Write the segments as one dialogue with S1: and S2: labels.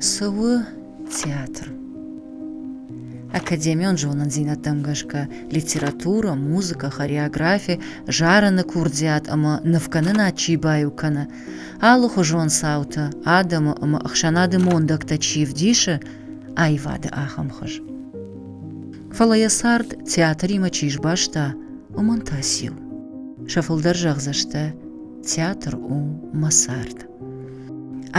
S1: Цы у театр? Академион зонындзинӕдтӕм гӕсгӕ литературӕ, музыкӕ, хореографи зарыны курдиат ӕмӕ нывкӕнынад чи баиу кӕны, алыхуызон цаутӕ, адӕмы ӕмӕ ӕхсӕнады мондӕгтӕ чи вдисы, аивады ахӕм хуыз. фӕлӕ йӕ цард театримӕ чи сбаста, уымӕн та циу? Сӕ фылдӕр зӕгъдзӕстӕ, театр у мӕ цард.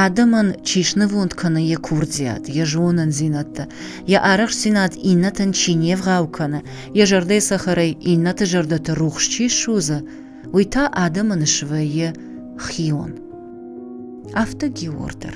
S1: Адӕмӕн чи снывонд кӕны йӕ курдиат, йӕ зонындзинӕдтӕ, йӕ арӕхстдзинад иннӕтӕн чи не вгъау кӕны, йӕ зӕрдӕйы цӕхӕрӕй иннӕты зӕрдӕты рухс чи ссудзы, уый та адӕмы ныссвӕййы хион. Афтӕ Геор дӕр.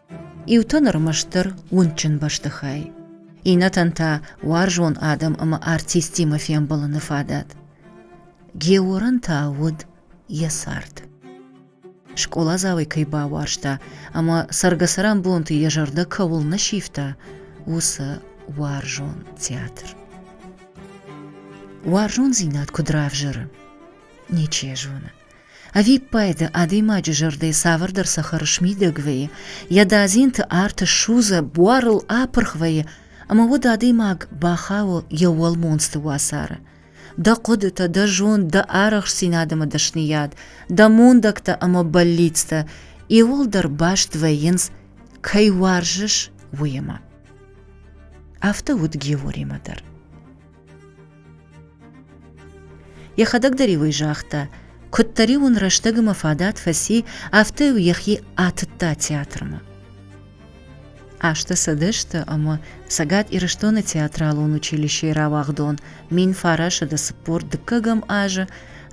S1: Иутӕн ӕрмӕстдӕр уындджын бӕстыхай, иннӕтӕн та уарзон адӕм ӕмӕ артисттимӕ фембӕлыны фадат. Георӕн та уыд йӕ цард. Скъоладзауӕй кӕй бауарзта ӕмӕ цӕргӕцӕрӕнбонты йӕ зӕрдӕ кӕуыл нӕ сивта, уыцы уарзон театр. Уарзондзинад куыд равзӕры? Ничи зоны. Ӕвиппайды адӕймаджы зӕрдӕ цавӕрдӕр цӕхӕр смидӕг вӕййы, йӕ дадзинты арт ссудзы, буарыл апырх вӕййы, ӕмӕ уыд адӕймаг бахауы йӕ уӕлмонцты уацары. Дӕ хъуыдытӕ, дӕ зонд, дӕ арӕхстдзинад ӕмӕ дӕсныйад, дӕ мондӕгтӕ ӕмӕ бӕллицтӕ иууылдӕр баст вӕййынц, кӕй уарзыс, уыимӕ. Афтӕ уыд Георимӕ дӕр. Йӕхӕдӕг дӕр-иу ӕй загъта, куыддӕр-иу ын рӕстӕг ӕмӕ фадат фӕци, афтӕ-иу йӕхи атыдта театрмӕ. Азтӕ сӕдӕсты ӕмӕ Цӕгат Ирыстоны театралон училищейы рауагъдон мин фарасады цыппор дыккӕгӕм азы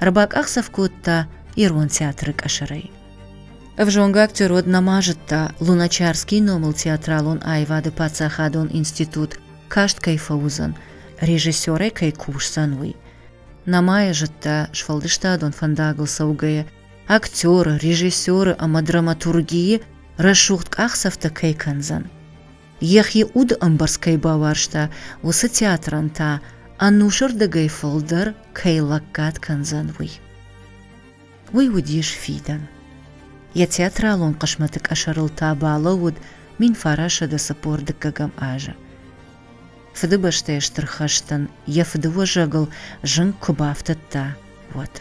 S1: ӕрбакъахдзӕф кодта ирон театры къӕсӕрӕй. Ӕвзонг актер уӕд нӕма зыдта Луначарский номыл театралон аивады паддзахадон институт каст кӕй фӕуыдзӕн, режиссерӕй кӕй кусдзӕн, уый. Намайя зыдта, сфӕлдыстадон фӕндагыл цӕугӕйӕ, актеры, режиссеры ӕмӕ драматургийы рӕсугъд къахдзӕфтӕ кӕй кӕндзӕн. Йӕхи уды ӕмбӕрц кӕй бауарзта, уыцы театрӕн та ӕнусырдыгӕй фылдӕр кӕй лӕггад кӕндзӕн, уый. уый уыдис фидӕн. Йӕ театралон хъысмӕты къӕсӕрыл та балӕууыд мин фарасӕды цыппор дыккӕгӕм азы. Фыдыбӕстӕйы Стыр хӕстӕн йӕ фыдыуӕзӕгыл зынг куы бафтыдта, уӕд.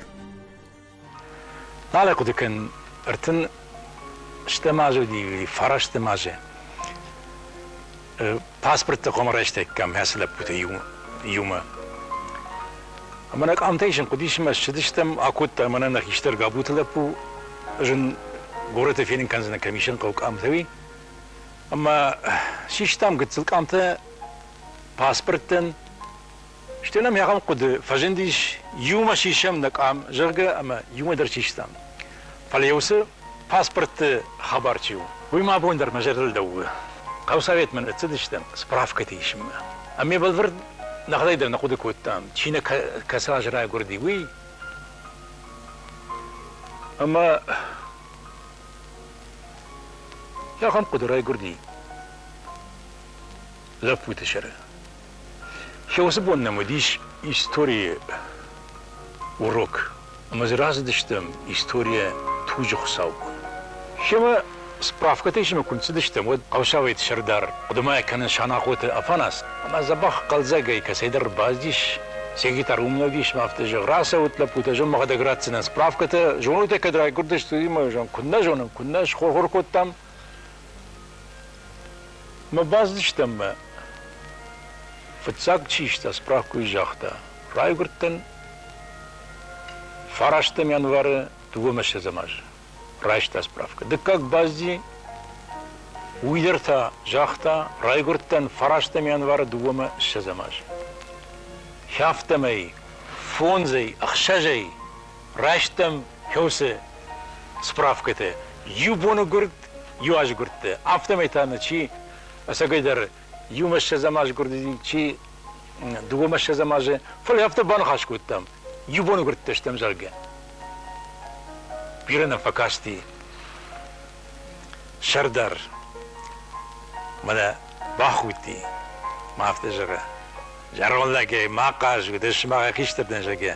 S2: Балӕхъуыды кӕн, ӕртын стӕм азы уыди фарастӕм азы. паспортты хъуамӕ райстаиккам ацы лӕппуты иу, иумӕ. Ӕмӕ нӕ къамтӕй сын хъуыдис ӕмӕ ссыдыстӕм, акодта мӕнӕ нӕ хистӕр Габуты лӕппу, зын горӕты фенын кӕндзынӕ, кӕм исӕн хъӕуы къамтӕ уый. Ӕмӕ систам гыццыл къамтӕ паспорттӕн, Стӕй нӕм ахӕм хъуыды фӕзындис, иумӕ сисӕм нӕ къам, зӕгъгӕ, ӕмӕ иумӕ дӕр систам. Фӕлӕ йӕ уыцы паспортты хабар чи у, уый мӕ абон дӕр мӕ зӕрдыл лӕууы. Хъӕусоветмӕ ныццыдыстӕм справкӕты исынмӕ. Ӕмӕ ме бӕлвырд нӕхӕдӕг дӕр нӕ хъуыды кодтам, чи нӕ кӕцы аз райгуырди, уый. Ӕмӕ ахӕм хъуыды райгуырди лӕппуты сӕры. Йӕ уыцы бон нӕм уыдис историйы урок. Ӕмӕ дзы рацыдыстӕм историйӕ туджы хуыцаубон. Семӕ справкӕтӕ исынмӕ куы ныццыдыстӕм, уӕд хъӕусавӕйты сӕрдар хъуыдымаӕ кӕны Санахъоты Афанас, ӕмӕ дзӕбӕх хъӕлдзӕгӕй кӕцӕйдӕр бӕззис, секретарь уым нӕ уыдис, ӕмӕ афтӕ зӕгъ, рацӕут, лӕппутӕ, зӕгъ, мӕхӕдӕг ратдзынӕн справкӕтӕ, зонойтӕ кӕд райгуырдысты, уый мӕ зӕгъ, куыннӕ зонӕм, куыннӕ схор-хор кодтам. Мы бацыдыстӕм мӕ фыццаг чистӕ справкуйы загъта райгуырдтӕн фарастӕм январы дыууӕ мӕсӕдзӕм азы райста справка дыккаг бӕззи уый дӕр та загъта райгуырдтӕн фарастӕм январы дыууӕмӕ ссӕдзӕм азы хӕфтӕмӕй фондзӕй ӕхсӕзӕй райстам кӕуыцы справкӕтӕ иу боны гуырд, иу азы гуырдты, афтӕмӕй та нӕ чи ӕцӕгӕйдӕр иумӕ ссӕдзӕм аз гуырдыди, чи дыууӕмӕ ссӕдзӕм азы, фӕлӕ афтӕ баныхас кодтам, иу боны гуырдтӕ стӕм, зӕгъгӕ. Бирӕ нӕ фӕкасти сӕрдар. Мӕнӕ бахудти, мӕ афтӕ зӕгъы. Зӕронд лӕгӕй ма хъаз уыдӕ, сымах хистӕртӕн, зӕгъгӕ.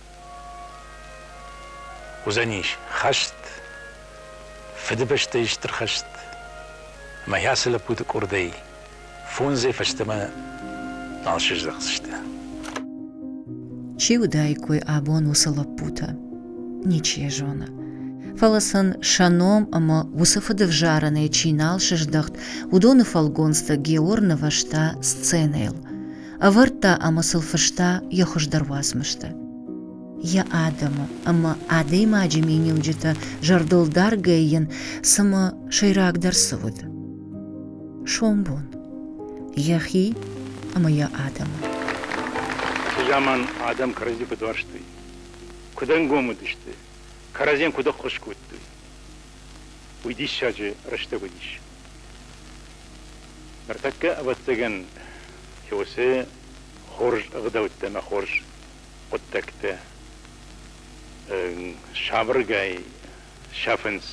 S2: Уыдзӕнис хӕст, Фыдыбӕстӕйы Стыр хӕст ӕмӕ йӕ ацы лӕппуты къуырдӕй фондзӕй фӕстӕмӕ нал сыздӕхдзысты.
S1: Чи уыдаиккой абон уыцы лӕппутӕ? Ничи йӕ зоны. Фӕлӕ сын сӕ ном ӕмӕ уыцы фыдывзарӕнӕй чи нал сыздӕхт, уыдоны фӕлгонцтӕ Геор нывӕзта сценӕйыл. ӕвӕрдта ӕмӕ сыл фыста йӕ хуыздӕр уацмыстӕ. Йӕ адӕмы ӕмӕ адӕймаджы миниуджытӕ зӕрдылдаргӕй йын цымӕ сӕйрагдӕр цы уыд? Сомбон. Йӕхи ӕмӕ йӕ адӕмы. Уыцы
S2: заман адӕм кӕрӕдзи фӕдуӕрстой. Куыд ӕнгом уыдысты, кӕрӕдзийӕн куыд ӕххуыс кодтой, уый диссаджы рӕстӕг уыдис. Ныртӕккӕ, ӕвӕццӕгӕн, кёсы хорз ӕгъдӕуттӕ ӕмӕ хорз хъуыддӕгтӕ сабыргай сӕфынц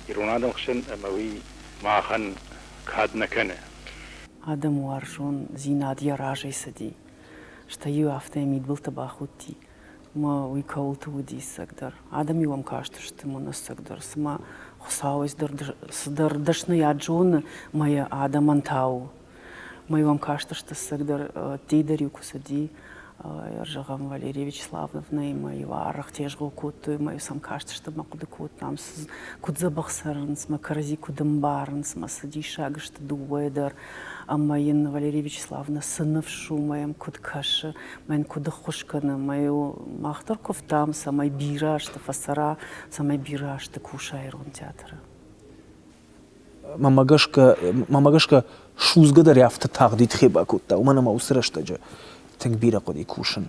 S2: ирон адӕмы хсӕн ӕмӕ уый махӕн кад нӕ кӕны. Адӕмы
S3: уарзондзинад йӕ разӕй цыди, стӕй-иу афтӕ йӕ мидбылты бахудти. ӕмӕ уый кӕуылты уы диссагдӕр. Адӕм-иу ӕм кастысты мӕнӕссагдӕр, цыма Хуыцауӕй цыдӕр дӕсныйад зоны мӕ адӕмӕн та у. Мӕ-иу ӕм кастысты ссагдӕр ӕддейдӕр-иу куы цыди, Ӕрзӕгъӕн Валерия Вячеславовнӕ мӕ-иу арӕх тезгъо кодтой, мӕ-иу сӕм кастысты мӕ хъуыды кодтам, куыд дзӕбӕх цӕрынц, мӕ кӕрӕдзи куыд ӕмбарынц, мӕ цы диссаг сты дыууӕ дӕр. Ӕмӕ йын Валерия Вячеславовнӕ цы ныфс у мӕ йӕм куыд кӕсы, мӕн куыд ӕххуыс кӕны. Мӕ мах дӕр куывтам, цӕмӕй бирӕ азты фӕцӕра, цӕмӕй бирӕ азты куса ирон театры. Мӕмӕ гӕсгӕ,
S4: мӕмӕ гӕсгӕ судзгӕ дӕрӕфты тагъдид хе бакодта, уымӕн ӕмӕ уыцы рӕстӕджы тынг бирӕ хъуыди кусын.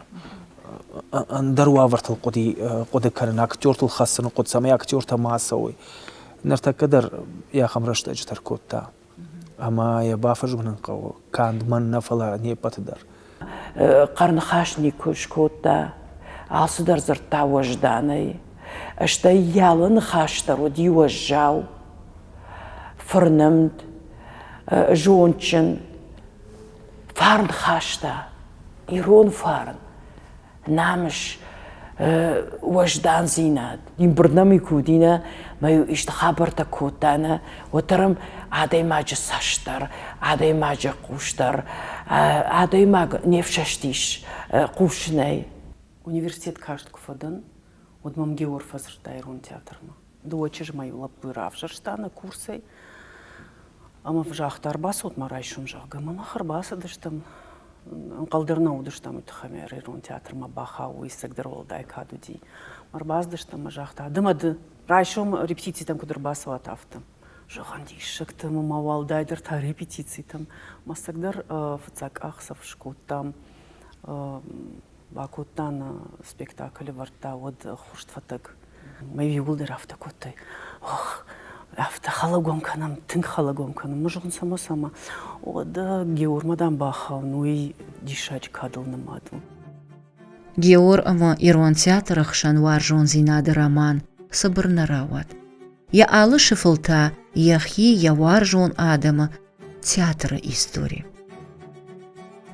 S4: Ӕндӕр уавӕртыл хъуыди хъуыды кӕнын, актертыл хӕцыны хъуыд, цӕмӕй актертӕ ма ацӕуой. Ныртӕккӕ дӕр йӕ ахӕм рӕстӕджытӕ ркодта. Ӕмӕ йӕ бафӕзмын хъӕуы канд мӕн нӕ, фӕлӕ не ппӕты дӕр.
S3: Хъӕрныхас никуы скодта, алцыдӕр дзырдта уӕзданӕй, стӕй йалы ныхас дӕр уыди уӕззау, фырнымд, зондджын, фарн хаста, ирон фарн. намыс, уӕздандзинад. Ин бирднами ку уыдинӕ, ма иу исты хабӕрттӕ кодтайнӕ, уӕддӕр ӕм адӕймаджы цӕст дӕр, адӕймаджы хъус дӕр, адӕймаг не фсӕстис хъусынӕй. Университет карст куы фӕдӕн, уӕд мӕм Геор фӕдзырдта ирон театрмӕ. дыууӕ чызмӕй лӕппуйы равзӕрста нӕ курсӕй. Ӕмӕ загъта, ӕрбацут ма райсом, зӕгъгӕ. Мӕ мах ӕрбацыдыстӕм, ӕнхъӕлдӕр нӕ уыдыстӕм уый тыххӕй, ӕмӕ ирон театрмӕ бахауы, уыйсӕгдӕр уӕлдай кад уыди. Ӕрбацыдыстӕм, ӕмӕ загъта, ды ма ды райсом репетицитӕм куыд ӕрбацӕуат, афтӕ. Зӕгъӕн, диссӕгтӕ, мӕ уӕлдайдӕр та репетицитӕм. Мӕстӕгдӕр фыццаг къахдзӕф скодтам бакодта нӕ спектакль ӕвӕрдта уӕд хурст фӕтӕг мӕ иууылдӕр афтӕ кодтой афтӕ халагон кӕнӕм тынг халагон кӕнӕм мы зӕгъын само само уӕдӕ геормӕ дам бахауын уый диссаджы кадыл нымад у
S1: геор ӕмӕ ирон театры хсӕн уарзондзинады роман цыбыр нӕ рауад йӕ алы сыфыл та йӕхи йӕ уарзон адӕмы театры истори.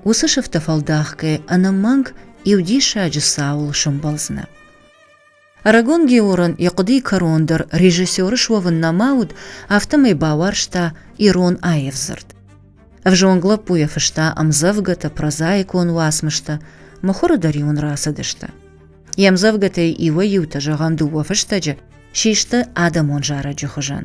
S1: Уыцы сыфтӕ фӕлдахгӕ ӕнӕмӕнг иу диссаджы цауыл сӕмбӕлдзынӕ. Арагон Георан йӕ хъуыдыйы кӕрон дӕр режиссеры суӕвын нӕма уыд, афтӕмӕй бауарзта ирон аив дзырд. Ӕвзонг лӕппуйӕ фыста ӕмдзӕвгӕтӕ, прозаикон уацмыстӕ, мыхуыры дӕр-иу ын рацыдысты. Йе мдзӕвгӕтӕй иуӕй-иутӕ, зӕгъӕм, дыууӕ фыстӕджы, систы адӕмон зарӕджы хуызӕн.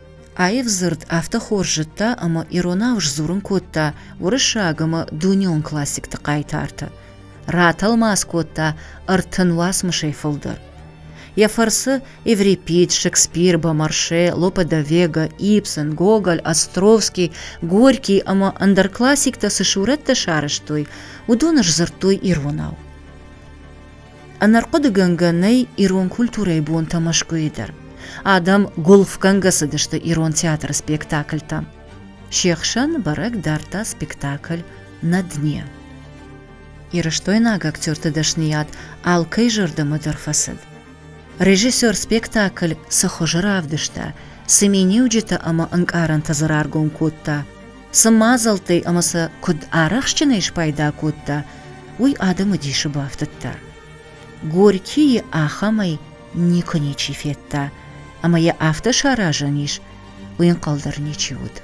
S1: Аив дзырд афтӕ хорз зыдта ӕмӕ иронау сдзурын кодта уырыссаг ӕмӕ дунеон классикты хъайтартӕ, ратӕлмац кодта ӕртын уацмысӕй фылдӕр. Йӕ фӕрцы Еврипид, Шекспир, Бомарше, Лопе де Вега, Ибсен, Гоголь, Островский, Горький ӕмӕ ӕндӕр классиктӕ цы сурӕттӕ сарӕзтой, уыдоны сдзырдтой иронау. Ӕнӕрхъуыдыгӕнгӕ нӕй ирон культурӕйы бонтӕ Мӕскуыйы дӕр. Адӕм гуылфгӕнгӕ цыдысты ирон театры спектакльтӕм. Се хсӕн бӕрӕг дардта спектакль «На дне». Ирыстойнаг актерты дӕсныйад алкӕй зӕрдӕмӕ дӕр фӕцыд. Режиссер спектакль цы хуызы равдыста, цы миниуджытӕ ӕмӕ ӕнкъарӕнтӕ дзы раргом кодта, Цы мадзӕлттӕй ӕмӕ сӕ куыд арӕхстджынӕй спайда кодта, уый адӕмы дисы бафтыдта. Горькийы ахӕмӕй никуы ничи федта, ӕмӕ йӕ афтӕ саразӕн ис, уый ӕнхъӕл дӕр ничи уыд.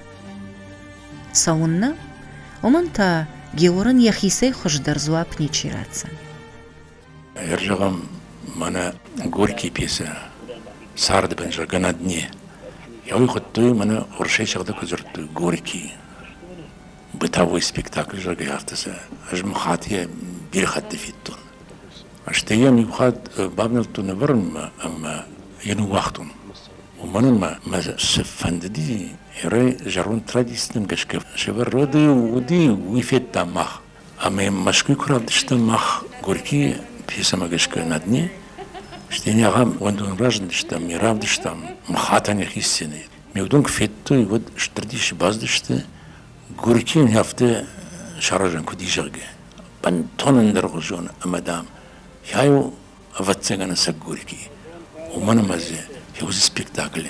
S1: Цӕуыннӕ? Уымӕн та Георӕн йӕхицӕй хуыздӕр дзуапп ничи ратдзӕн.
S2: Ӕрзӕгъӕм мӕнӕ Горькийы пьесӕ «Царды бынза на дне». Йӕ уый хуыдтой мӕнӕ Оршӕй сыгъдӕг куы дзырдтой Горькийы бытовой спектакль, зӕгъгӕ, афтӕ сӕ ӕз мыхатыйӕ бирӕ хатты федтон. Стӕй йӕм иу хатт бавнӕлдтон ӕвӕрынмӕ ӕмӕ йӕ ныууагътон. Уымӕн ӕмӕ мӕ цы фӕндыди, рӕй зӕронд традицитӕм гӕсгӕ сӕвӕр, уӕд уыди, уый федтам мах. Ӕмӕ Мӕскуыйы куы равдыстам мах Горькийы пьесӕмӕ гӕсгӕ на дне, стӕй нӕ ахӕм уӕндон разындыстӕм, ӕмӕ равдыстам Махатӕн йӕхи сценӕйы. Ме удӕн куы федтой, уӕд стыр дисы бацыдысты, Горькийӕн афтӕ саразӕн куыд и, зӕгъгӕ. Бынтон ӕндӕргъуызон ӕмӕ, дам, йа йыл, ӕвӕццӕгӕн, ӕцӕг Горький у. Уымӕн ӕмӕ дзы фӕуыдзы спектакль.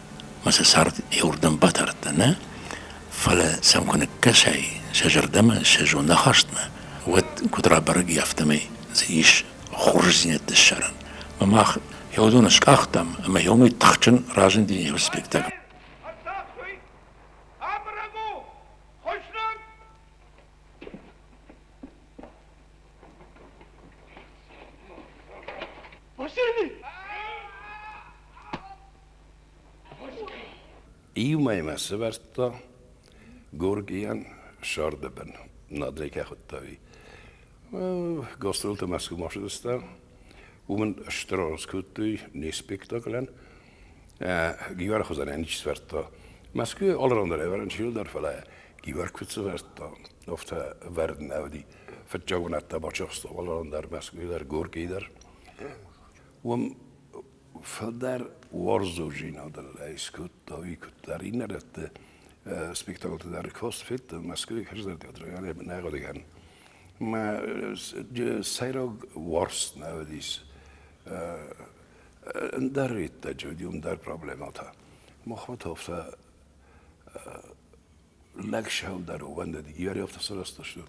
S2: Ӕмӕ сӕ цард иуырдӕм батардта нӕ, фӕлӕ сӕм куы ныккӕсай сӕ зӕрдӕмӕ, сӕ зондахастмӕ, уӕд куыд рабӕрӕг и, афтӕмӕй дзы ис хорздзинӕдтӕ ссарӕн. Ӕмӕ мах йӕ уыдоны скъахтам, ӕмӕ йӕ уымӕй тыхджын разынди йӕ спектакль.
S5: Иумӕ мӕ сӕвӕрдта Горгийӕн Сардебен. Надей ке худтави. Гастролтӕ Мӕскуы ма фӕзыдта. Уымӕн стыр аргъ кодтой не спектаклӕн. Гивар хуызӕн ничи сӕвӕрдта. Мӕскуйы алраундӕр ӕвӕрӕн чи уыддӕр, фӕлӕ Гивар куыд сӕвӕрдта, афтӕ ӕвӕрд нӕ уыди. Фыццаг бынат та бачахста алраундӕр Мӕскуйы дӕр, Горькийы дӕр. Уым фылдӕр уарзондзинадыл скодтой куыддӕр иннӕрӕтты спектаклты дӕр. Кроссфит Москвы кӕсдзӕн театралӕн ӕмӕ нӕгъуыдыгӕн. Мӕ сӕйраг уарзт нӕ уыдис ӕндӕр иттӕджы уыди ӕндӕр проблемӕтӕ. Махмӕт афтӕ Лӕг сӕлдар уӕндыд, йӕ рӕвдзтӕ сарӕзтысты,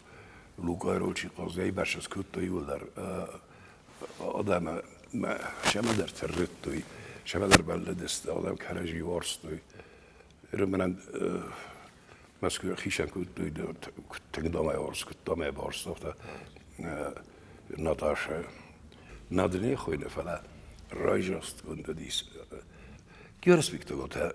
S5: лукъайрочи къӕрзӕй бӕрцӕ скодтой иуылдӕр адӕмы мӕ сӕмӕдӕр тыррыттой, сӕмӕдӕр бӕллыдысты, адӕм кӕрӕдзи уарзтой. Ерымонӕн Мӕскуы хицӕн кодтой, тынг домӕй уарз, куыд домӕй барст, афтӕ Наташӕ. Нӕ дын не хойны, фӕлӕ райрӕзтгонд уыдис. Георг Спектакльтӕ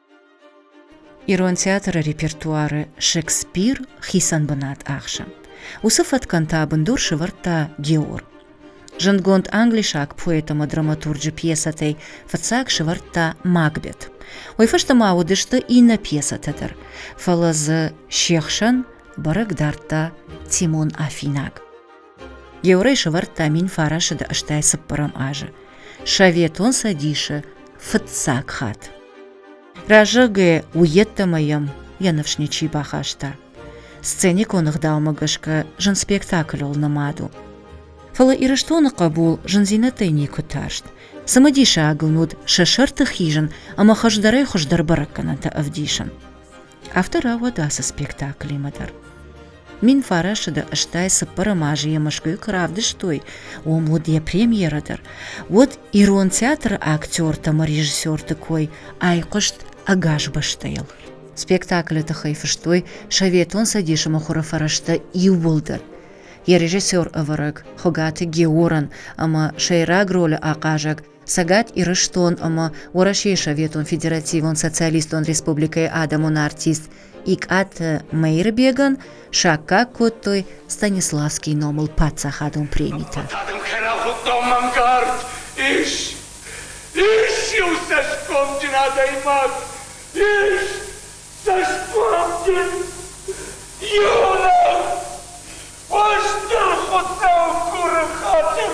S1: Ирон театры репертуары Шекспир хицӕн бынат ахсы. Уыцы фӕткӕн та бындур сывӕрдта Геор. Зындгонд англисаг поэт ӕмӕ драматурджы пьесӕтӕй фыццаг сывӕрдта Макбет. Уый фӕстӕ ма уыдысты иннӕ пьесӕтӕ дӕр, фӕлӕ дзы се хсӕн бӕрӕг дардта Тимон Афинаг. Георӕй сӕвӕрдта мин фарасыды ӕстӕй цыппӕрӕм азы Советон Цӕдисы фыццаг хатт. Разӕгӕ уййеддӕмӕ йӕм йӕ ныфс ничи бахаста. Сценикон ӕгъдаумӕ гӕсгӕ зын спектакльыл нымад у. Фӕлӕ Ирыстоны хъӕбул зындзинӕдтӕй никуы тарст. Цымыдисаг ын уыд сӕ сӕрты хизын ӕмӕ хӕздӕрӕй хуыздӕр бӕрӕггӕнӕнтӕ ӕвдисын. Афтӕ рауад ацы спектаклимӕ дӕр. Мин фарӕсыды ыстӕй цыппӕрӕм азы йӕ Мӕскуыйы куы равдыстой, уым уыд йӕ премьерӕ дӕр, уӕд ирон театры актертӕм ӕмӕ режиссерты кой айхъуыст ӕгас бӕстӕйыл. Спектаклы тыххӕй фыстой Советон Цӕдисы мыхуыры фӕрӕзтӕ иууылдӕр. Йӕ режиссер ӕвӕрӕг Хуыгаты Георӕн ӕмӕ сӕйраг ролы ахъазӕг Цӕгат Ирыстон ӕмӕ Уӕрӕсейы Советон Федеративон Социалистон Республикӕйы адӕмон артист Икъаты Мӕирбегӕн саккаг кодтой Станиславский номыл паддзахадон премитӕ. Ис, ис иу цӕсгомджын адӕймаг, ис цӕсгомджын иунӕг, хъуыста
S6: Хуыцау куры хатыр.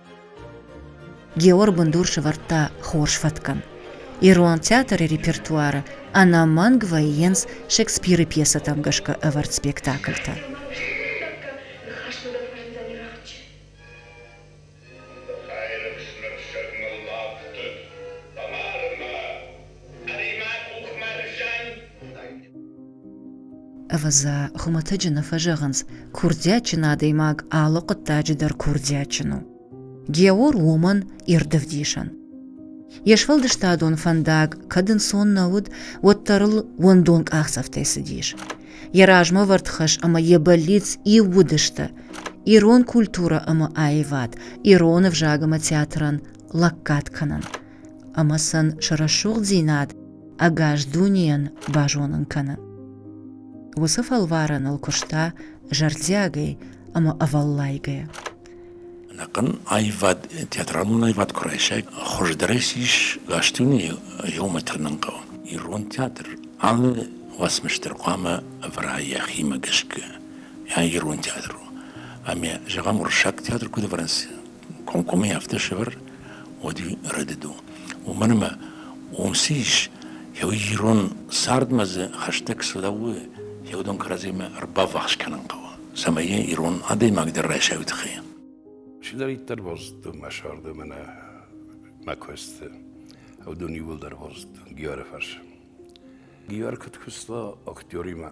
S1: Геор бындур сывӕрдта хорз фӕткӕн. Ирон театры репертуары ӕнӕмӕнг вӕййынц Шекспиры пьесӕтӕм гӕсгӕ ӕвӕрд спектакльтӕ. Ӕри-ма къухмӕ рызӕн! Ӕвӕдза, хуымӕтӕджы нӕ фӕзӕгъынц, курдиатджын адӕймаг алы хъуыддаджы дӕр курдиатджын у. Геор уымӕн ирд ӕвдисӕн. Йе сфӕлдыстадон фӕндаг кӕд ӕнцон нӕ уыд, уӕддӕр ыл уӕндон къахдзӕфтӕй цыдис. Йӕ размӕвӕрд хӕс ӕмӕ йӕ бӕллиц иу уыдысты ирон культурӕ ӕмӕ аивад ирон ӕвзаг ӕмӕ театрӕн лӕггад кӕнын, ӕмӕ сын сӕ рӕсугъддзинад ӕгас дунейӕн базонын кӕны. Уыцы фӕлварӕныл куыста зӕрдиагӕй ӕмӕ ӕвӕллайгӕ. Ӕнӕхъӕн
S2: аивад, театралон аивад куы райсай, хуыздӕрӕй сис гастуни иумӕ тырнын хъӕуы. Ирон театр алы уацмыстыр хъуамӕ ӕвӕра йӕхимӕ гӕсгӕ йӕ ирон театр у. Ӕмӕ зӕгъӕм, уырыссаг театр куыд ӕвӕрынц, комкоммӕ афтӕ сӕвӕр, уӕди рӕдыд у. Уымӕн ӕмӕ уым цы ис, еу ирон цардмӕ дзы хӕстӕг цы лӕууы, еу дон кӕрӕдзимӕ ӕрбаввахс кӕнын хъӕуы, цӕмӕй ирон адӕймаг дӕр райсайа уый тыххӕй.
S5: Чидӕриддӕр базыдтой мӕ царды ӕмӕ нӕ мӕ куысты. Уыдон иууылдӕр базыдтон Гиары фӕрцы. Гиар куыд куыста актеримӕ,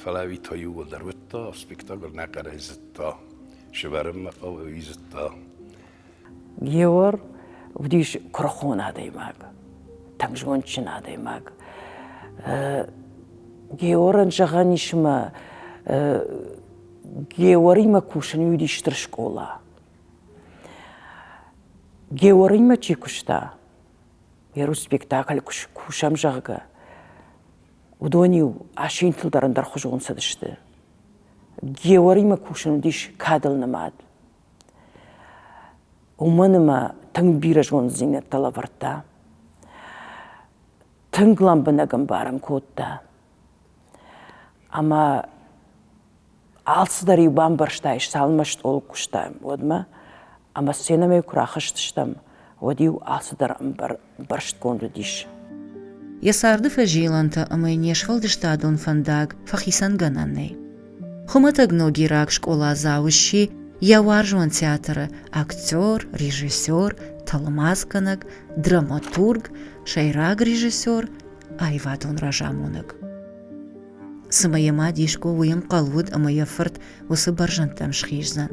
S5: Фӕлӕ та иууылдӕр уыдта, спектакль нӕ хъӕрӕй зыдта, сывӕрынмӕ хъӕуы, зыдта.
S3: Геор уыдис куырыхон адӕймаг, тынг зондджын адӕймаг. Георӕн зӕгъӕн ис мӕ Георимӕ кусын уыди стыр скъола. Георимӕ чи куыста, йӕ рус спектакль куы кусӕм, зӕгъгӕ, уыдон-иу асинтыл дӕр ӕндӕрхуызон цыдысты. Геуӕримӕ кусын уыдис кадыл нымад. Уымӕн ӕмӕ тынг бирӕ зонддзинӕдтӕ лӕвӕрдта. Тынг лӕмбынӕг ӕмбарын кодта. Ӕмӕ Алцыдӕр-иу бамбӕрстаис, цалынмӕ стъолы куыстам, уӕдмӕ, ӕмӕ сценӕмӕ куы рахызтыстӕм, уӕд-иу алцыдӕр ӕмбӕрстгонд уыдис. Йӕ царды
S1: фӕзилӕнтӕ ӕмӕ йын йе сфӕлдыстадон фӕндаг фӕхицӕн гӕнӕн нӕй. Хуымӕтӕг ногираг скъоладзау сси йӕ уарзон театры актер, режиссер, тӕлмацгӕнӕг, драматург, сӕйраг режиссер, аивадон разамонӕг. Цымӕ йӕ мад Иско уый ӕнхъӕл уыд, ӕмӕ йӕ фырт уыцы бӕрзӕндтӕм схиздзӕн?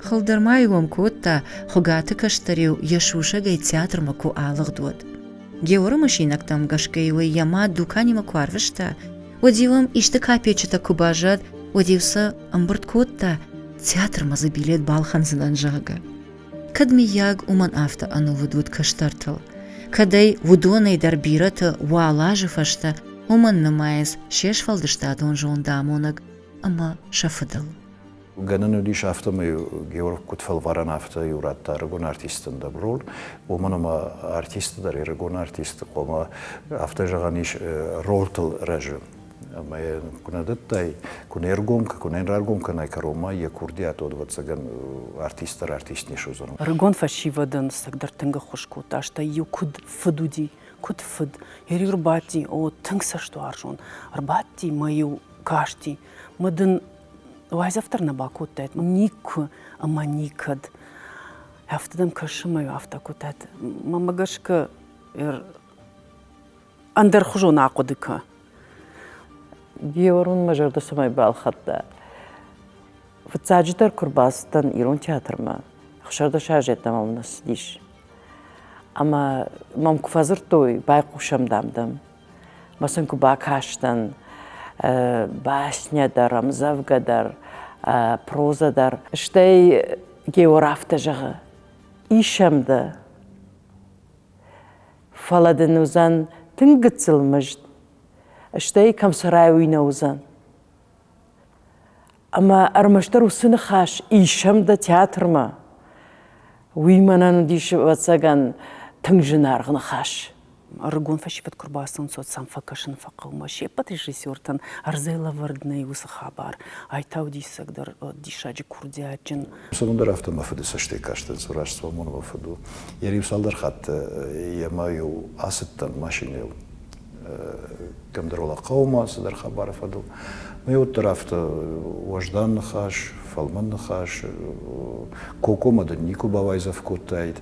S1: Хылдӕр ма иуом кодта, Хуыгаты кӕстӕр-иу йӕ сусӕгӕй театрмӕ куы алыгъд, уӕд. Георы мысинӕгтӕм гӕсгӕ-иу ӕй йӕ мад дуканимӕ куы арвыста, уӕд-иу ӕм исты капеччытӕ куы баззад, уӕд-иу сӕ ӕмбырд кодта, театрмӕ дзы билет балхӕндзынӕн, зӕгъгӕ. Кӕд, миййаг, уымӕн афтӕ ӕнувыд уыд кӕстӕртыл, кӕд ӕй уыдонӕй дӕр бирӕты уал азы фӕстӕ уымӕн нымайынц се сфӕлдыстадон зондамонӕг ӕмӕ сӕ фыдыл. Гӕнӕн
S7: уыдис афтӕмӕй Георг куыд фӕлварӕн, афтӕ иу радта ӕрыгон артистӕн дӕброн, уымӕн ӕмӕ артисты дӕр ӕрыгон артисты хъуамӕ, афтӕ зӕгъӕн ис, ролтыл рӕзы. ӕма е куд нӕ дӕттӕй, ку не ргом, ку не раргом кӕнай кӕронмӕ, е курдиат одвӕццӕгӕн артисттӕр артист не суодзӕнӕн. Ӕрыгон фӕсивӕдӕн
S3: сӕгдӕр тынг ӕххуыс кодта, стӕй-иу куыд фыд уыди, куыд фыд. Йӕ-иу ӕрбадти, о, тынг цӕстуарзон. Ӕрбадти мӕ-иу касти. Мӕ дын уайдзӕф дӕр нӕ бакодтаид, мӕм никуы ӕмӕ никӕд. Афтӕ дӕм кӕсы, мӕ афтӕ кодтат. Мӕмӕ гӕсгӕ ӕндӕрхуызон ахъуыды кӕ. Георгун мӕ зӕрдӕ цӕмӕй балхӕдта? Фыццаджыдӕр куы рбацыдтӕн ирон театрмӕ, ӕхсӕрдӕсӕз ӕддӕмӕ мын ссыдис. Ӕмӕ мӕм куы фӕдзырдтой, байхъусӕм, дам, дам. Мӕ сын куы бакастӕн, басня дӕр, ӕмдзӕвгӕ дӕр, проза дӕр. Стӕй Геор афтӕ зӕгъы, ис ӕм дӕ? Фӕлӕ дын уыдзӕн тынг гыццыл мызд, стӕй кӕмсӕрӕй уый нӕ уыдзӕн. Ӕмӕ ӕрмӕстдӕр уыцы ныхас исӕм дӕ театрмӕ. Уый мӕнӕн уыдис, ӕвӕццӕгӕн, тынг зынаргъ ныхас. Ӕрыгон фӕсивӕд куы рбацӕуын цот сӕм фӕкӕсын фӕхъӕуы. Се ппӕт режиссертӕн ӕрдзӕй лӕвӕрд нӕй уыцы хабар. Ай та у диссагдӕр диссаджы курдиатджын Уыдон дӕр афтӕ мӕ
S7: фыды цӕстӕй кастӕнц, Рождествомон мӕ фыд у. Йӕ риу цалдӕр хатты йӕ мӕ-иу ацыдтӕн машинӕйыл кӕмдӕр хъӕумӕ цыдӕр хабары фӕдыл. Мӕ уӕддӕр афтӕ уӕздан ныхас, фӕлмӕн ныхас, кокомӕ дын никуы бауайдзӕф кодтаид,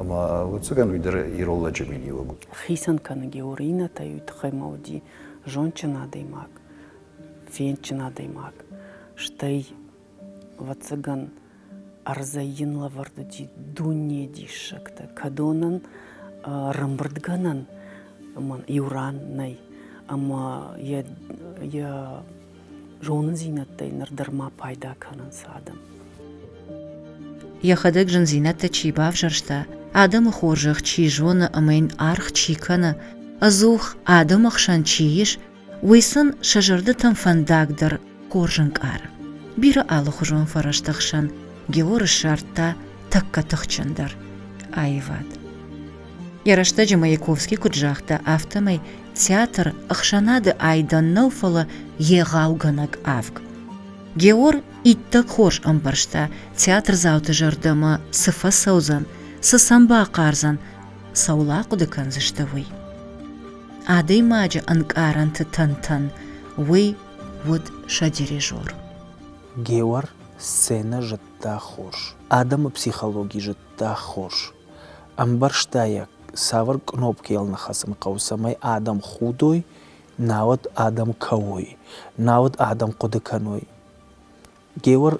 S7: ӕмӕ ӕвӕццӕгӕн уый дӕр ирон лӕджы миниуӕг у. Хицӕн кӕны
S3: Георинӕтӕй уый тыххӕй мӕ уыди зондджын адӕймаг, фендджын адӕймаг, стӕй Вӕццӕгӕн ӕрдзӕй йын лӕвӕрд уыди дунейы диссӕгтӕ. Кӕдонӕн рӕмбырдгӕнӕн иу ран нӕй. Ӕмӕ йӕ йӕ зонындзинӕдтӕй ныр дӕр ма пайда кӕнынц адӕм.
S1: Йӕхӕдӕг зындзинӕдтӕ чи бавзӕрста, адӕмы хорзӕх чи зоны ӕмӕ йын аргъ чи кӕны, ӕдзух адӕмы хсӕн чи ис, уый сын сӕ зӕрдӕтӕм фӕндагдӕр хорз ӕнкъары. Бирӕ алыхуызон фӕрӕзты хсӕн Геор ссардта тӕккӕ тыхджындӕр аивад. Йӕ рӕстӕджы Маяковский куыд загъта, афтӕмӕй театр ӕхсӕнады айдӕн нӕу, фӕлӕ егъаугӕнӕг авг. Геор иттӕг хорз ӕмбӕрста, театрдзауты зӕрдӕмӕ цы фӕцӕудзӕн, цы сӕм бахъардзӕн, цӕуыл ахъуыды кӕндзысты, уый. Адӕймаджы ӕнкъарӕнты тӕнтӕн уый уыд сӕ дирижер.
S4: Геор сценӕ зыдта хорз, адӕмы психологи зыдта хорз. Ӕмбӕрста йӕ, цавӕр кънопкӕ йыл ныхӕсын хъӕуы, цӕмӕй адӕм худой, науӕд адӕм кӕуой, науӕд адӕм хъуыды кӕной. Геор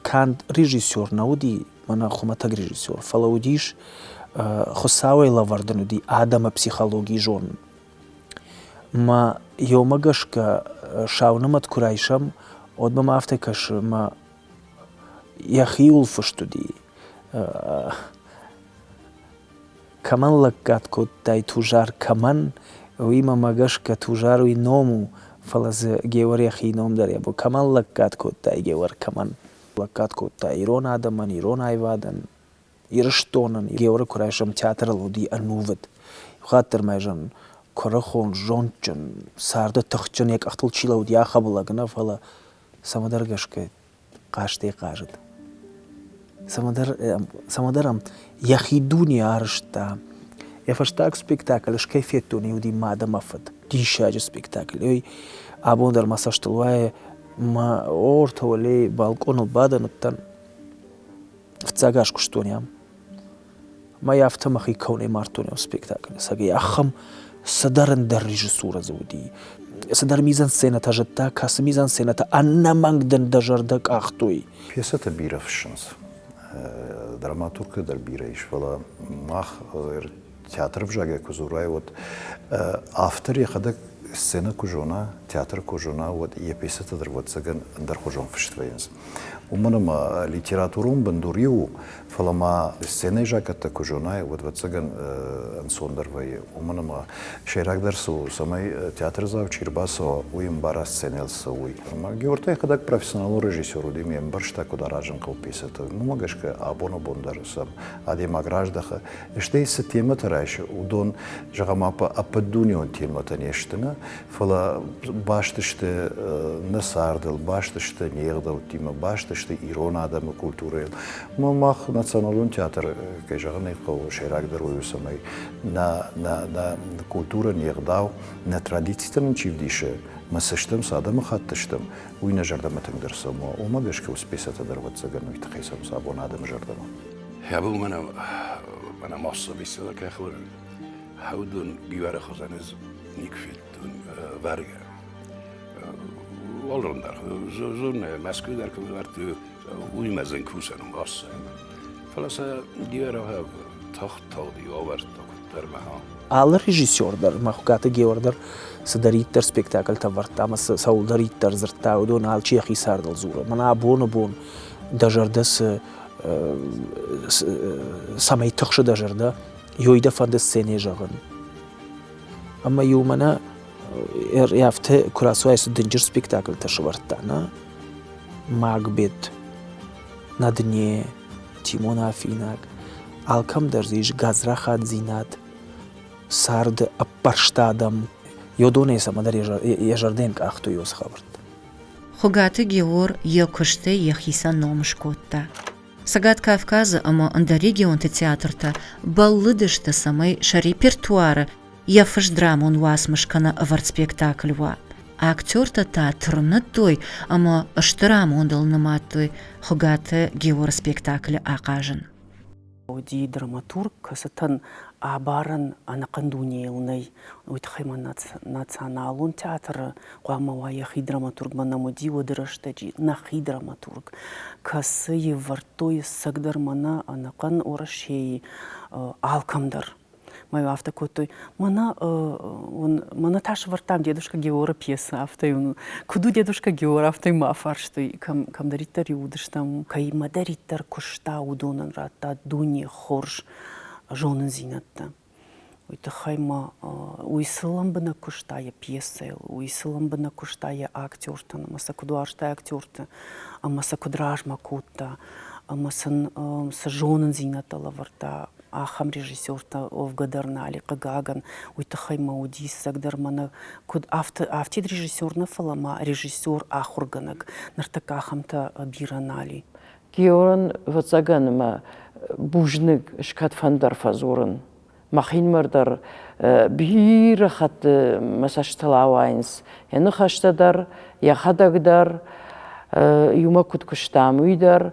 S4: канд режиссер нӕ уыди, мӕнӕ хуымӕтӕг режиссер, фӕлӕ уыдис Хуыцауӕй лӕвӕрд ын уыди адӕмы психологийы зонын. Мӕ ёмӕ гӕсгӕ сау нымӕт куы райсӕм, уӕд мӕм афтӕ кӕсы, ӕмӕ йӕхиуыл фыст уыди. Кӕмӕн лӕггад кодтай Тузар кӕмӕн, уимӕ мӕ гӕсгӕ Тузар уи ном у, фӕлӕ дзы Геуӕр йӕхи ном дӕр ебо. Кӕмӕн лӕггад кодтай Геуӕр кӕмӕн? Лӕггад кодтай ирон адӕмӕн, ирон аивадӕн, Ирыстонӕн. Геуӕры куы райсӕм театрыл уыди ӕнувыд. Иухатт дӕр ма ӕй зӕгъын, куырыхон, зондджын, царды тыхджын, йӕ къӕхтыл чи лӕууыд, йӕ ахӕбыл лӕг нӕ, фӕлӕ цӕмӕдӕр гӕсгӕ хъазтӕй хъазыд. Цӕмӕдӕр, цӕмӕдӕр ӕм йӕхи дуне арызта. Йӕ фӕстаг спектакль скӕй федтон, уыди мад ӕмӕ фыд. Диссаджы спектакль. Ой, абон дӕр мӕ цӕстыл уайы, мӕ ортӕ уӕле балкъоныл бадӕн уыдтӕн. фыццаг аз куыстон ам. Мӕй афтӕ мӕхи кӕуынӕй мардтон ам спектаклы, цӕгӕй ахӕм цыдӕр ӕндӕр режиссурӕ дзы уыди. Цыдӕр мизансценӕтӕ зыдта, кӕцы мизансценӕтӕ ӕнӕмӕнг дын дӕ зӕрдӕ къахтой. Пьесӕтӕ бирӕ
S7: фыссынц. Драматургты дӕр бирӕ ис, фӕлӕ мах театры взагӕй куы дзурай, уӕд автор йӕхӕдӕг сценӕ куы зона, театры куы зона, уӕд йӕ пьесӕтӕ дӕр ӕвӕццӕгӕн ӕндӕрхуызон фыст вӕййынц. Уымӕн ӕмӕ литературон бындур иу, фӕлӕ ма сценӕйы закъӕттӕ куы зонай, уӕд ӕвӕццӕгӕн ӕнцондӕр вӕййы. Уымӕн ӕмӕ сӕйрагдӕр цы у, цӕмӕй театрдзау чи рбацӕуа, уый ӕмбара сценӕйыл цӕуой. Ӕмӕ Георгий хӕдӕг профессионалон режиссер уыди, ме мбӕрста, куыд аразын хъӕуы пьесӕтӕ. Уымӕ гӕсгӕ абон-абон дӕр сӕм адӕймаг раздӕхы, Стӕй цы темӕтӕ райсы, уыдон, зӕгъӕм, ӕппӕтдунеон темӕтӕ не сты нӕ, фӕлӕ баст сты нӕ цардыл, баст сты не ӕгъдӕуттимӕ, баст сты ирон адӕмы культурӕйыл. Мах националон театр, кӕй зӕгъын ӕй хъӕуы, сӕйрагдӕр у, цӕмӕй нӕ, нӕ, нӕ культурӕ, не ӕгъдау, нӕ традицитӕ нын чи вдисы, мы цы стӕм, цы адӕмыхатт стӕм, уый нӕ зӕрдӕмӕ тынгдӕр цӕуы, уымӕ гӕсгӕ у спесӕтӕ дӕр ӕвӕццӕгӕн уый тыххӕй цӕуынц абон адӕмы зӕрдӕмӕ. Хәбу мене
S5: мене массо беседа кехлем. Хәудун гивара хозанез ник феттун варга. Олрандар, зонne мәсквидар квартő úgy mezőn kuszanum asszony. Falasa Георгиев тахталdi avártak termehán. Алы режиссер
S4: дӕр, Махукаты Геор дӕр цыдӕриддӕр спектакльтӕ вӕрдта ӕмӕ цӕуылдӕриддӕр дзырдта, уыдон алчи йӕхи цардыл дзуры. Мӕнӕ абоны бон дӕ зӕрдӕ цы цӕмӕй тыхсы дӕ зӕрдӕ, йой дӕ фӕнды сценӕ зӕгъын. Ӕмӕ-иу мӕнӕ афтӕ куы рацуай цы дынджыр спектакльтӕ сывӕрдта, на Макбет, на дне, Тимон Афинаг, алкӕмдӕр дзы ис гадзрахатдзинад, царды ӕппӕрст адӕм, йодонӕй цӕмӕндӕр йӕ зӕрдӕйӕн къахтой уыцы хабӕрттӕ. Хуыгаты
S1: Геор йӕ куыстӕй йӕхицӕн ном скодта. Цӕгат Кавказы ӕмӕ ӕндӕр регионты театртӕ бӕллыдысты, цӕмӕй сӕ репертуары йӕ фыст драмон уацмыс кӕнӕ ӕвӕрд спектакль уа. Актертӕ та тырныдтой ӕмӕ стыр амондыл нымадтой Хуыгаты Георы спектаклы ахъазын. уыди
S3: драматург, кӕцытӕн абарӕн ӕнӕхъӕн дунейыл нӕй. Уый тыххӕй ма Националон театры хъуамӕ уа йӕхи драматургмӕ нӕм уыди уӕды рӕстӕджы нӕхи драматург, кӕцы ӕвӕрдтой ӕцӕгдӕр мӕнӕ ӕнӕхъӕн Уӕрӕсейы алкӕмдӕр. мӕ йыл афтӕ кодтой мӕнӕ мӕнӕ та сӕвӕрдтам дедушка геора пьесы афтӕ йын куыд у дедушка геор афтӕ йын ма афарстой кӕм кӕмдӕриддӕр иудыстӕм кӕимӕдӕриддӕр куыста уыдонӕн радта дуне хорз зонындзинӕдтӕ уый тыххӕй ма уый цы лӕмбынӕг куыста йӕ пьесӕйыл уый цы лӕмбынӕг куыста йӕ актертӕн ӕмӕ сӕ куыд уарзта актерты ӕмӕ сӕ куыд размӕ кодта ӕмӕ сын цы зонындзинӕдтӕ лӕвӕрдта ахӕм режиссертӕ Олга Дарнали, хъыгагӕн, уый тыххӕй мӕ уы диссагдӕр мӕнӕ куыд афтӕ афтид режиссер нӕ фӕлӕ ма режиссер, ахуыргӕнӕг. Ныртӕккӕ ахӕмтӕ бирӕ нали. Георн,
S8: ӕвӕццӕгӕн ӕмӕ бузныг скӕдфӕндӕр фӕдзурын. Мӕхинмӕр дӕр бирӕ хатты мӕ цӕстытыл ауайынц йӕ ныхӕстӕ дӕр, йӕхӕдӕг дӕр, иумӕ куыд куыстам, уый дӕр.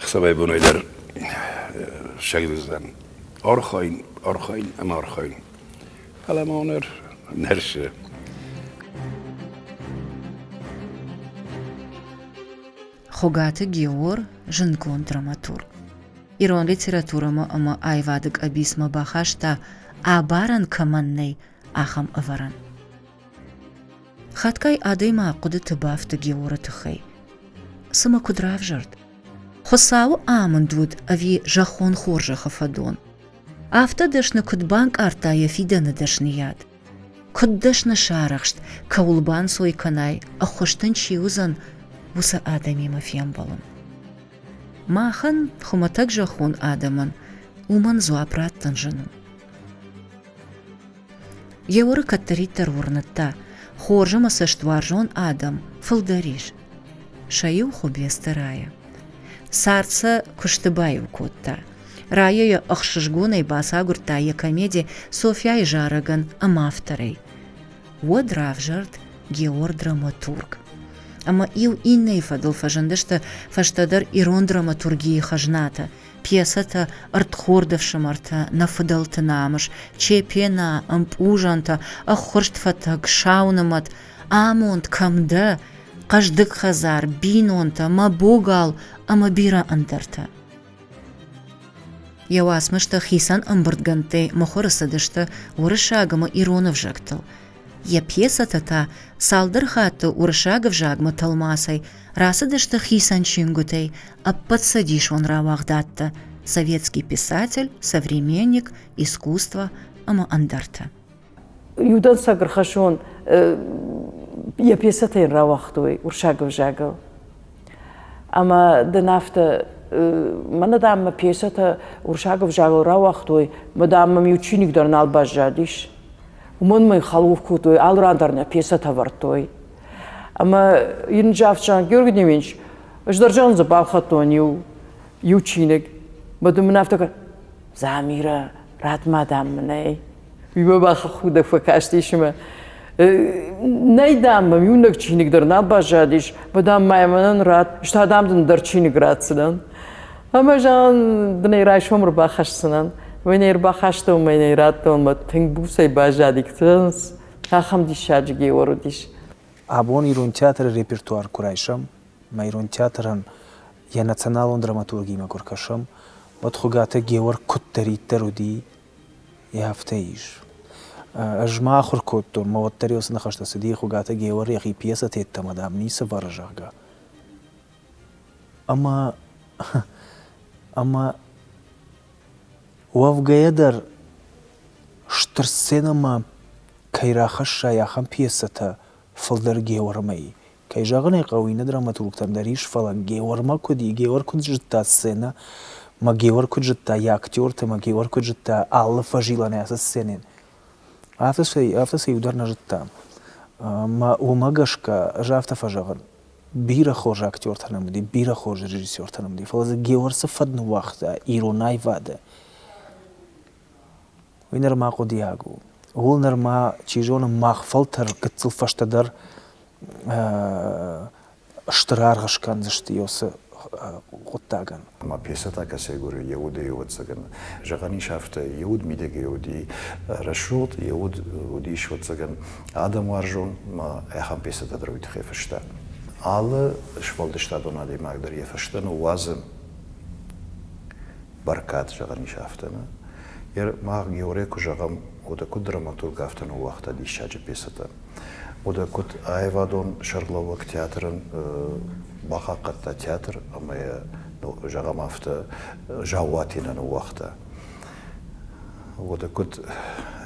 S5: Ӕхсӕвӕй-бонӕй дӕр сӕгдуздзӕн. Архайын, архайын ӕмӕ архайын. Фӕлӕ ма ныр нӕ рсы.
S1: Хуыгаты Геор, зындгонд драматург, ирон литературӕмӕ ӕмӕ аивады къӕбицмӕ бахаста, абарӕн кӕмӕн нӕй, ахӕм ӕвӕрӕн. Хатгай адӕймаг хъуыдыты бафты Георы тыххӕй. Цымӕ куыд равзӕрд? Хуыцауы амынд уыд ӕви зӕххон хорзӕхы фӕдон? Афтӕ дӕсны куыд банкъардта йӕ фидӕны дӕсныйад? Куыд дӕсны сарӕхст, кӕуыл банцой кӕнай, ӕххуыс дын чи уыдзӕн, уыцы адӕмимӕ фембӕлын. Махӕн, хуымӕтӕг зӕххон адӕмӕн, уымӕн дзуапп раттын зын у. Георы кӕддӕриддӕр уырныдта, хорз ӕмӕ цӕстуарзон адӕм фылдӕр ис. Сӕ иу Хуыбецты Рая. Цард сӕ куысты баиу кодта. Рая йӕ ӕхсызгонӕй бацагуырдта йӕ комеди Софьяйы зарӕгӕн ӕмӕ авторӕй. Уӕд равзӕрд Геор драматург. Ӕмӕ иу иннӕйы фӕдыл фӕзындысты фӕстӕдӕр ирон драматургийы хӕзнатӕ, пьесӕтӕ Ӕрдхорды ӕфсымӕртӕ, Нӕ фыдӕлты намыс, Чепена, Ӕмпъузӕнтӕ, Ӕххуырст фӕтӕг, Саунымӕт, Амонд кӕм дӕ, Хъӕздыг хӕдзар, Бинонтӕ, Мӕ богал ӕмӕ бирӕ ӕндӕртӕ. Йӕ уацмыстӕ хицӕн ӕмбырдгӕндтӕй мыхуыры цыдысты уырыссаг ӕмӕ ирон ӕвзӕгтыл. Йӕ пьесӕтӕ та цалдӕр хатты уырыссаг ӕвзагмӕ тӕлмацӕй Рацыдысты хицӕн чингуытӕй ӕппӕтцӕдисон рауагъдадтӕ «Советский писатель», «Современник», «Искусство» ӕмӕ ӕндӕртӕ.
S8: Иудӕнцӕг ӕрхӕссон йӕ пьесӕтӕ йын рауагътой уырсаг ӕвзагыл. Ӕмӕ дын афтӕ мӕнӕ дам мӕ пьесӕтӕ уырсаг ӕвзагыл рауагътой, мадам мӕм иу чиныг дӕр нал баззадис. Уымӕн мӕ хӕлуф кодтой, алы ран дӕр нӕ пьесӕтӕ ӕвӕрдтой. Ӕмӕ йын Джавчан Георгиевич сдӕрзӕн дзы балхӕдтон иу иу чиныг. Баду мын афтӕ кӕ Замира, рад мадам мынӕй. Уый бӕ бахахудӕг фӕкастис ӕмӕ Нӕй, дам, мӕм иунӕг чиныг дӕр нал баззадис, бӕ дам ма мӕнӕн рад, ста, дам, дын дӕр чиныг ратдзынӕн. Ӕмӕ зӕгъын, дын ӕй райсом ӕрбахӕсдзынӕн. Мӕ нӕ ӕрбахастон, мӕ нӕ радтон, мӕ тынг буцӕй баззади. Ахӕм диссаджы Геор уыдис. Абон ирон
S4: театры репертуар куы райсӕм, ӕмӕ ирон театрӕн йӕ националон драматургиимӕ куы ркӕсӕм, уӕд Хуыгаты Геор куыддӕриддӕр уыди, йӕ афтӕ ис. Ӕз ма ахуыр кодтон, мӕ уӕддӕр уыцы ныхӕстӕ цыди Хуыгаты Геор йӕхи пьесӕты йеддӕмӕ, дам, ницы вӕры, зӕгъгӕ. Ӕмӕ ӕмӕ уӕвгӕйӕ дӕр стыр сценӕмӕ кӕй рахӕссай, ахӕм пьесӕтӕ фылдӕр Геуӕрмӕй. Кӕй зӕгъын ӕй хъӕуы, иннӕ драматургтӕм дӕр ис, фӕлӕ Геуӕрмӕ куыд и? Геуӕр куыд зыдта сценӕ, ӕмӕ Геуӕр куыд зыдта йӕ актертӕ, ӕмӕ Геуӕр куыд зыдта алы фӕзилӕнӕй ацы сценӕйӕн. Афтӕ сӕ афтӕ сӕ иу дӕр нӕ зыдта. Ӕмӕ уымӕ гӕсгӕ, ӕз афтӕ фӕзӕгъын, бирӕ хорз актертӕ нӕм уыди, бирӕ хорз режиссертӕ нӕм уыди, фӕлӕ дзы Геор цы фӕд ныууагъта ирон аивады, уый нырма хъуыдиаг у. Ууыл нырма, чи зоны, мах фӕлтӕр гыццыл фӕстӕдӕр стыр аргъ скӕндзысты уыцы хъуыддагӕн. ӕма Песата
S7: Косегури е уод еуӕдзӕгӕн. Зӕгъӕн ис афтӕ, е уод мидӕгӕй уди рӕсугъд, е уод уди исуодзӕгӕн адӕмуарзон, ма ӕхӕн Песата дӕр уой туххӕй фӕста. Алы сфӕлдыстадон адӕймаг дӕр е фӕстӕ ныууадзы бӕркад, зӕгъӕн ис афтӕ. нӕ? Ер мах Георӕй куы зӕгъӕм, уӕдӕ куыд драматург афтӕ ныууагъта диссаджы пьесӕтӕ. Уӕдӕ куыд аивадон сӕргълӕууӕг театрӕн бахъахъхъӕдта театр ӕмӕ йӕ, зӕгъӕм афтӕ, Заууатинӕ ныууагъта. Уӕдӕ куыд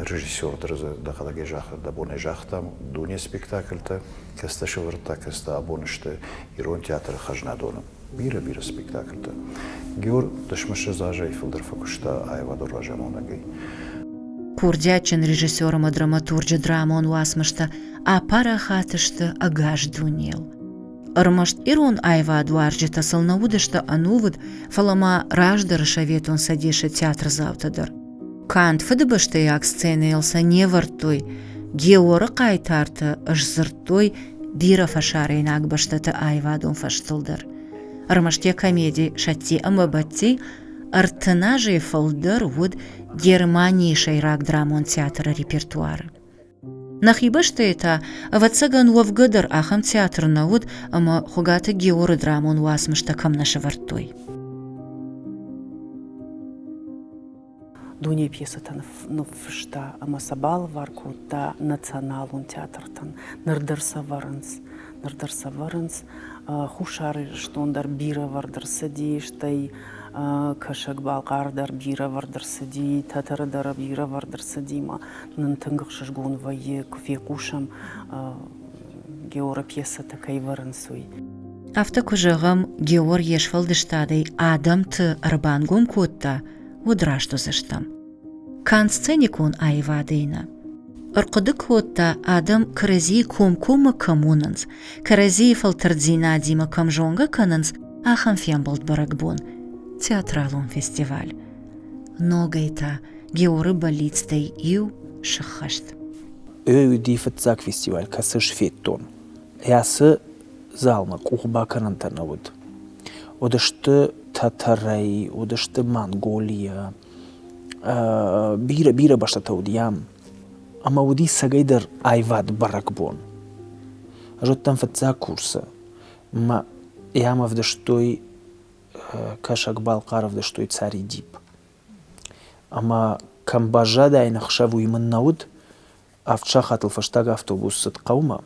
S7: режиссер дӕр дзы дӕхӕдӕг дӕ бонӕй загътам, дуне спектакльтӕ, кӕцытӕ сӕвӕрдта, кӕцытӕ абон сты ирон театры хӕзнадоны. бирӕ-бирӕ спектакльтӕ. Геор дысмысы зазӕй фылдӕр фӕкуыста аивадон разамонӕгӕй.
S1: Курдиатджын режиссер ӕмӕ драматурджы драмон уацмыстӕ апарахат сты ӕгас дунейыл. Ӕрмӕст ирон аивадуарзджытӕ сыл нӕ уыдысты ӕнувыд, фӕлӕ ма раздӕры Советон Цӕдесы театрдзаутӕ дӕр. Канд фыдыбӕстӕйаг сценӕйыл сӕ не вӕрдтой, Георы хъайтарты сдзырдтой бирӕ фӕсарӕйнаг бӕстӕты аивадон фӕзтыл дӕр. Ӕрмӕст йӕ комеди «Сӕтти ӕмӕ Бӕтти» ӕртын азӕй фылдӕр уыд Германийы сӕйраг драмон театры репертуары. Нӕхи бӕстӕйы та, ӕвӕццӕгӕн, уӕвгӕ дӕр ахӕм театр нӕ уыд, ӕмӕ Хуыгаты Георы драмон уацмыстӕ кӕм нӕ сӕвӕрдтой.
S3: Дуней пьесӕтӕ ныффыста ӕмӕ сӕ балывар кодта националон театртӕн. Ныр дӕр сӕвӕрынц. Ныр дӕр сӕвӕрынц. Хуссар Ирыстон дӕр бирӕвӕрд ӕрцыди, стӕй Кӕсӕг-Балхъар дӕр бирӕвӕрд ӕрцыди, Тӕтӕры дӕр бирӕвӕрд ӕрцыди ма нын тынг ӕхсызгон вӕййы, куы фехъусӕм, георопьесӕтӕ кӕй вӕрынц, уый. Афтӕ куы
S1: зӕгъӕм, Геор йе сфӕлдыстадӕй адӕмты ӕрбангом кодта, уӕд раст уыдзыстӕм. Канд сценикон аивадӕй нӕ. Ӕрхъуыды кодта, адӕм кӕрӕдзийы комкоммӕ кӕм уынынц, кӕрӕдзийы фӕлтӕрддзинадимӕ кӕм зонгӕ кӕнынц, ахӕм фембӕлд бӕрӕгбон, театралон фестиваль. ногӕй та Георы бӕллицтӕй иу сыххӕст. Ой
S4: уыди фыццаг фестиваль, кӕцы сфедтон. Ацы залмӕ къухбакӕнӕнтӕ нӕ уыд. Уыдысты Татарӕй, уыдысты Монголийӕ, бирӕ бирӕ бӕстӕтӕ уыд йӕм, ӕмӕ уыди сӕгӕйдӕр аивад бӕрӕгбон. Зыдтам фыццаг курсы, мӕ йӕм ӕвдыстой кӕсӕгбӕл хъӕрвдӕстой цари дипп. Ӕма кӕм баззадӕн ӕхсӕвуй мын нӕ уыд, авд сахатыл фӕстаг автобус цыд хъӕумӕ.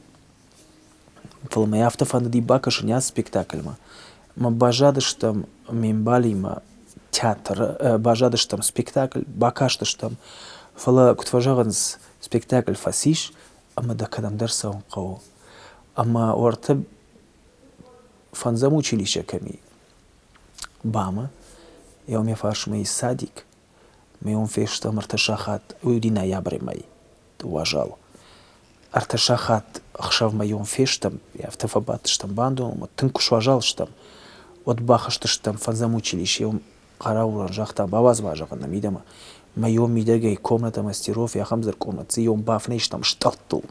S4: Фӕлӕ мӕ афтӕ фӕндыди бакӕсын йӕ спектакльмӕ. Ӕмӕ баззадыстӕм ме мбалимӕ театры, баззадыстӕм спектакль, бакастыстӕм. Фӕлӕ куыд фӕзӕгъынц, спектакль фӕцис, ӕмӕ дӕ кӕдӕмдӕр цӕуын хъӕуы. Ӕмӕ уӕртӕ фӕндзӕм училище кӕми ба ма еу ме фарсмӕ иссадик ма еун фестӕм ӕртӕ сахат уой уди ноябрӕмӕй дууӕ зал ӕртӕ сахат ӕхсӕвмӕ еун фестӕм афтӕ фӕбадтыстӕм бандонмӕ тынг куы суазал стӕм уӕд бахызтыстӕм фӕндзӕм училищеӕм Хъараулар загъта, бауадз-ма, зӕгъын ӕм мидӕмӕ, мӕ ион мидӕгӕй комнӕтӕ мастеров, ахӕм дзырдкъомы цъион бафынӕзтам стъӕлттыл,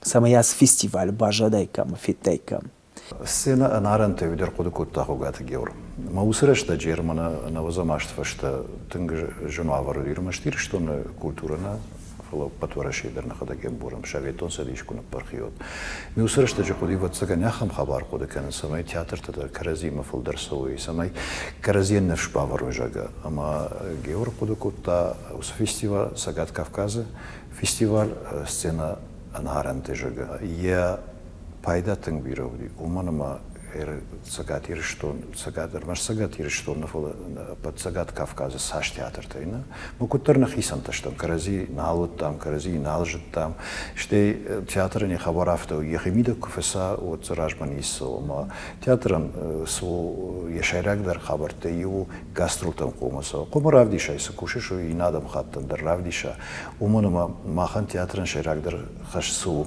S4: цӕмӕй ацы фестиваль баззадаиккам, федтаиккам. Сценӕ
S7: ӕнарӕнтӕй уый дӕр хъуыды кодта Хуыгаты Геор. Ӕмӕ уыцы рӕстӕджы Ерманы Ӕнӕуӕдзӕм азты фӕстӕ тынг зын уавӕр уыд ӕрмӕст Ирыстоны культурӕ нӕ, фӕлӕ ӕппӕт Уӕрӕсейы дӕр нӕхӕдӕг йӕ борӕм, Советон Цӕдис куы ныппырх и, уӕд. Ме уыцы рӕстӕджы хъуыди, ӕвӕццӕгӕн, ахӕм хабар хъуыды кӕнын, цӕмӕй театртӕ дӕр кӕрӕдзиимӕ фылдӕр цӕуой, цӕмӕй кӕрӕдзийӕн не сбавӕрой зӕгъгӕ. Ӕмӕ Геор хъуыды кодта, уыцы фестиваль Цӕгат Кавказы фестиваль Сцена ӕнхъарӕнты зӕгъгӕ, йӕ пайда тынг бирӕ уыди, уымӕн ӕмӕ Цӕгат Ирыстон, Цӕгат, ӕрмӕст Цӕгат Ирыстон нӕ, фӕлӕ ӕппӕт Цӕгат Кавказы цас театртӕй нӕ, мы куыддӕр нӕхицӕнтӕ стӕм, кӕрӕдзи нал уыдтам, кӕрӕдзи нал зыдтам, стӕй театрӕн йӕ хабар афтӕ у, йӕхимидӕг куы фӕца, уӕд дзы размӕ ниццы, ома театрӕн цы йӕ сӕйрагдӕр хабӕрттӕй иу у гастролтӕн хъомы цӕуын. Хъомы равдисӕй цы кусыс, уый иннӕ адӕм хаттӕн дӕр равдиса, уымӕн ӕмӕ махӕн театрӕн сӕйрагдӕр хӕс цы у,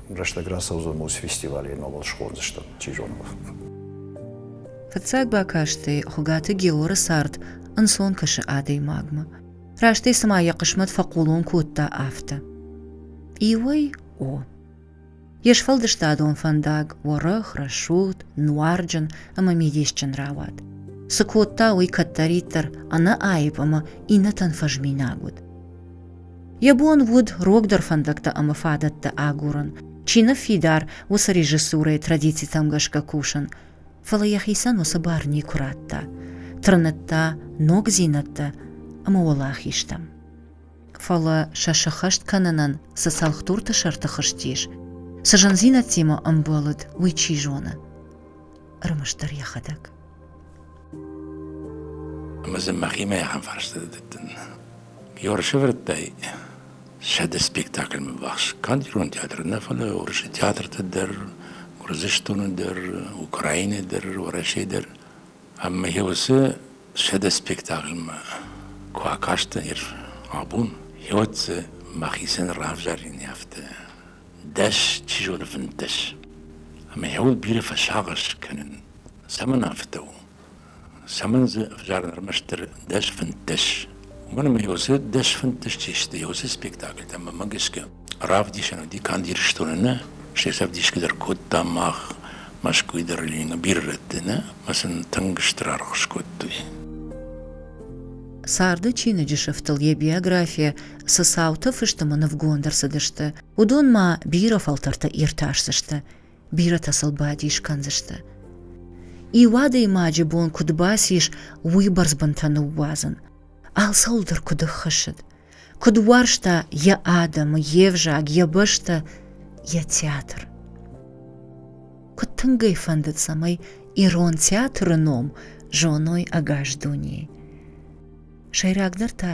S7: Рӕстӕг рацӕудзӕн ма фестиваль ӕмӕ уал схондзыстӕм, чи зоны.
S1: Фыццаг бакастӕй Хуыгаты Георы цард ӕнцон кӕсы адӕймагмӕ. Растӕй цыма йӕ хъысмӕт фӕхъулон кодта, афтӕ. Иуӕй о. Йе сфӕлдыстадон фӕндаг уӕрӕх, рӕсугъд, нуарджын ӕмӕ мидисджын рауад. Цы кодта, уый кӕддӕриддӕр ӕнӕаипп ӕмӕ иннӕтӕн фӕзминаг уыд. Йӕ бон уыд рогдӕр фӕндӕгтӕ ӕмӕ фадӕттӕ агурын, чи ныффидар, уыцы режиссурӕйы традицитӕм гӕсгӕ кусын, фӕлӕ йӕхицӕн уыцы бар никуы радта, тырныдта ногдзинӕдтӕ ӕмӕ уӕлахизтӕм. Фӕлӕ сӕ сыххӕст кӕнынӕн цы цӕлхдурты сӕрты хызтис, цы зындзинӕдтимӕ ӕмбӕлыд, уый чи зоны. ӕрмӕстдӕр йӕхӕдӕг.
S2: Ӕмӕ дзы мӕхимӕ ахӕм фарста дӕттын. Ёрсывӕрдтай сӕды спектакльмӕ ввахс канд ирон театры нӕ, фӕлӕ Уырысы театрты дӕр, Гуырдзыстоны дӕр, Украины дӕр, Уӕрӕсе дӕр. Ӕмӕ йӕ уыцы сӕды спектакльмӕ куы акастӕн, абон, йӕ уӕд дзы мӕхицӕн равзарын афтӕ дӕс, чи зоны, фынддӕс. Ӕмӕ йӕ бирӕ фӕсагъӕс кӕнын. Цӕмӕн афтӕ у? Цӕмӕн дзы ӕвзарын ӕрмӕстдӕр дӕс фынддӕс? Уымӕн ӕмӕ уыцы дӕс фынддӕс чи сты, уыцы спектакль ӕмӕ гӕсгӕ равдисӕн уыди канд Ирыстоны нӕ, се цӕвдисгӕ дӕр кодта мах, Мӕскуыйы дӕр Ленины бирӕрӕтты нӕ, ӕмӕ сын тынг стыр аргъ скодтой. Царды
S1: чиныджы сыфтыл йӕ биографийӕ цы цауты фыстымы нывгонд ӕрцыдысты, уыдон ма бирӕ фӕлтӕрты иртасдзысты, бирӕтӕ сыл бадис кӕндзысты. Иуадӕймаджы бон куыд бацис, уый бӕрзбынтӕ ныууадзын. Алцӕуыл дӕр куыд ӕххӕссыд, куыд уарзта йӕ адӕмы, йе взаг, йӕ бӕстӕ, йӕ театр. Куыд тынг ӕй фӕндыд, цӕмӕй ирон театры ном зоной ӕгас дунейы. Сӕйрагдӕр та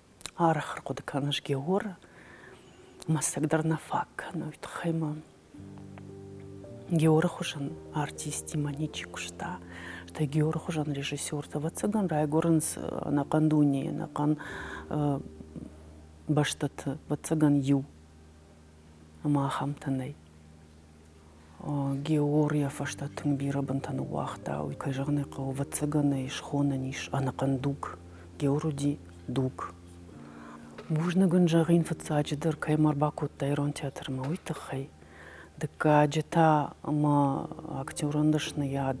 S3: Арахыр хъуыды кӕныс, Геор? Мӕстӕг дӕр нӕ фаг кӕны, уый тыххӕй мӕ Георы хуызӕн артистимӕ ничи куыста. Стӕй Георы хуызӕн режиссертӕ, ӕвӕццӕгӕн, райгуырынц ӕнӕхъӕн дунейы, ӕнӕхъӕн бӕстӕты, ӕвӕццӕгӕн иу ӕмӕ ахӕмтӕ нӕй. Геор йӕ фӕстӕ тынг бирӕ бынтӕ ныууагъта. Уый, кӕй зӕгъын ӕй хъӕуы, ӕвӕццӕгӕн ӕй схонӕн ис ӕнӕхъӕн дуг. Геор уыди дуг. Бузныг ын зӕгъин фыццаджыдӕр, кӕй ма ӕрбакодта ирон театрмӕ, уый тыххӕй. Дыккаджы та мӕ актерон дӕсныйад,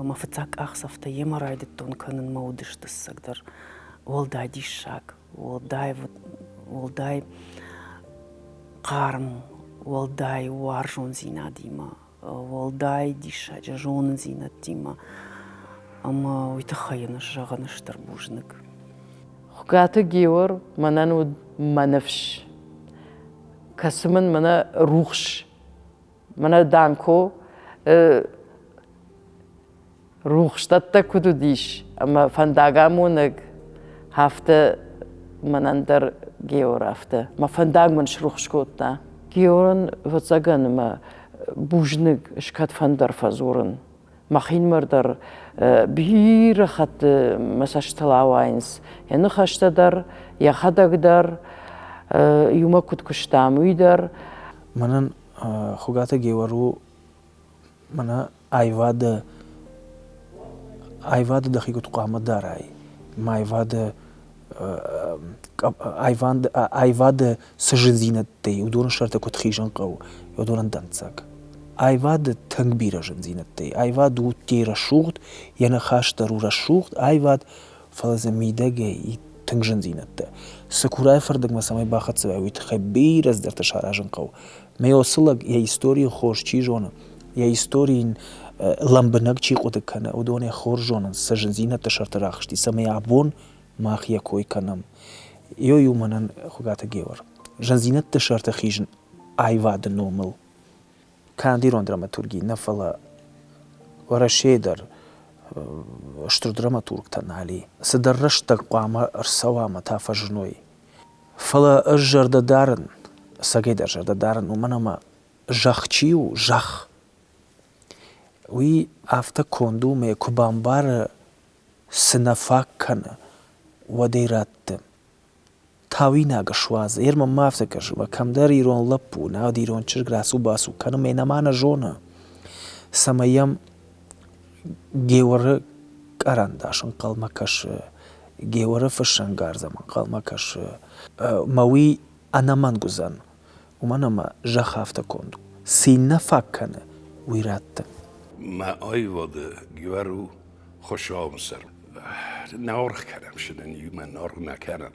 S3: мӕ фыццаг къахдзӕфтӕ йемӕ райдыдтон кӕнын мӕ удыстыссӕгдӕр, уӕлдай диссаг. уӕлдай уӕлдай хъарм, уӕлдай уарзондзинадимӕ, уӕлдай диссаджы зонындзинӕдтимӕ ӕмӕ уый тыххӕй йын зӕгъын стыр бузныг. Хуыгаты
S8: Геор мӕнӕн уыд мӕ ныфс, кӕцы мын мӕнӕ рухс, мӕнӕ Данко Рухсдӕттӕг куыд уыдис ӕмӕ фӕндагамонӕг, афтӕ мӕнӕн дӕр Геор афтӕ. Мӕ фӕндаг мын срухс кодта. Георӕн, ӕвӕццӕгӕн, ӕмӕ бузныг скӕдфӕндӕр фӕдзурын. Мӕхинымӕр дӕр бирӕ хатты мӕ цӕстытыл ауайынц, йӕ ныхӕстӕ дӕр, йӕхӕдӕг дӕр, иумӕ куыд куыстам, уый дӕр. Мӕнӕн
S4: Хуыгаты Геор у Мӕнӕ аивадӕ, аивады дӕхи куыд хъуамӕ дарай. Ӕмӕ аивады аивады цы зындзинӕдтӕ и, уыдоны сӕрты куыд хизын хъӕуы, уыдонӕн дӕнцӕг. Аивады тынг бирӕ зындзинӕдтӕ и. Аивад у тей рӕсугъд, йӕ ныхас дӕр у рӕсугъд аивад, фӕлӕ дзы мидӕгӕй и тынг зындзинӕдтӕ. Цыкурайы фӕрдыгмӕ цӕмӕй бахӕццӕ уай, уый тыххӕй бирӕ цыдӕртӕ саразын хъӕуы. Мӕ уыцы лӕг йӕ историйы хорз чи зоны, йӕ истори йын лӕмбынӕг чи хъуыды кӕны, уыдонӕй хорз зонынц сӕ зындзинӕдты сӕрты рӕхысти, цӕмӕй абон мах йӕ кой кӕнӕм. Ой у мӕнӕн Хуыгаты Геор. Зындзинӕдты сӕрты хизын аивады номыл канд ирон драматурги нӕ, фӕлӕ Уӕрӕсейы дӕр стыр драматургтӕ нал и. Цыдӕр рӕстӕг хъуамӕ ӕрцӕуа ӕмӕ та фӕзыной. Фӕлӕ ӕз зӕрдӕ дарын, ӕцӕгӕйдӕр зӕрдӕ дарын, уымӕн ӕмӕ зӕхх чи у, зӕхх, уый афтӕ конд у, ӕмӕ йӕ куы бамбары, цы нӕ фаг кӕны, уӕд ӕй рӕтты тауинаг суадзы. Ерман ма афтӕ кӕсы, ӕмӕ кӕмдӕр ирон лӕппу у, науӕд ирон чызг рацу-бацу кӕны, ӕмӕ йын ӕмӕ нӕ зоны, цӕмӕй йӕм Геуӕры карандаш ӕнхъӕлмӕ кӕсы, Геуӕры фыссӕнгарз ӕм ӕнхъӕлмӕ кӕсы. Мӕ уый ӕнӕмӕнг уыдзӕн, уымӕн ӕмӕ зӕхх афтӕ конд у. Цы йын нӕ фаг кӕны, уый радтын. Мӕ
S5: аивады Геуӕр у Хуыщауы сӕр. Нӕ аргъ кӕнӕм, сын ын иумӕ наргъ нӕ кӕнӕм.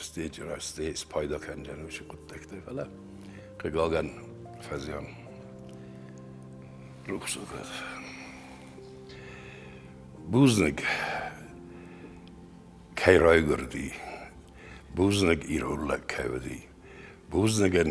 S5: стейджы раз стей спайда кӕндзӕн уыцы хъуыддӕгтӕ фӕлӕ хъыгагӕн фӕзиан рухсагад бузныг кӕй райгуырди бузныг ирон лӕг кӕй уыди бузныгӕн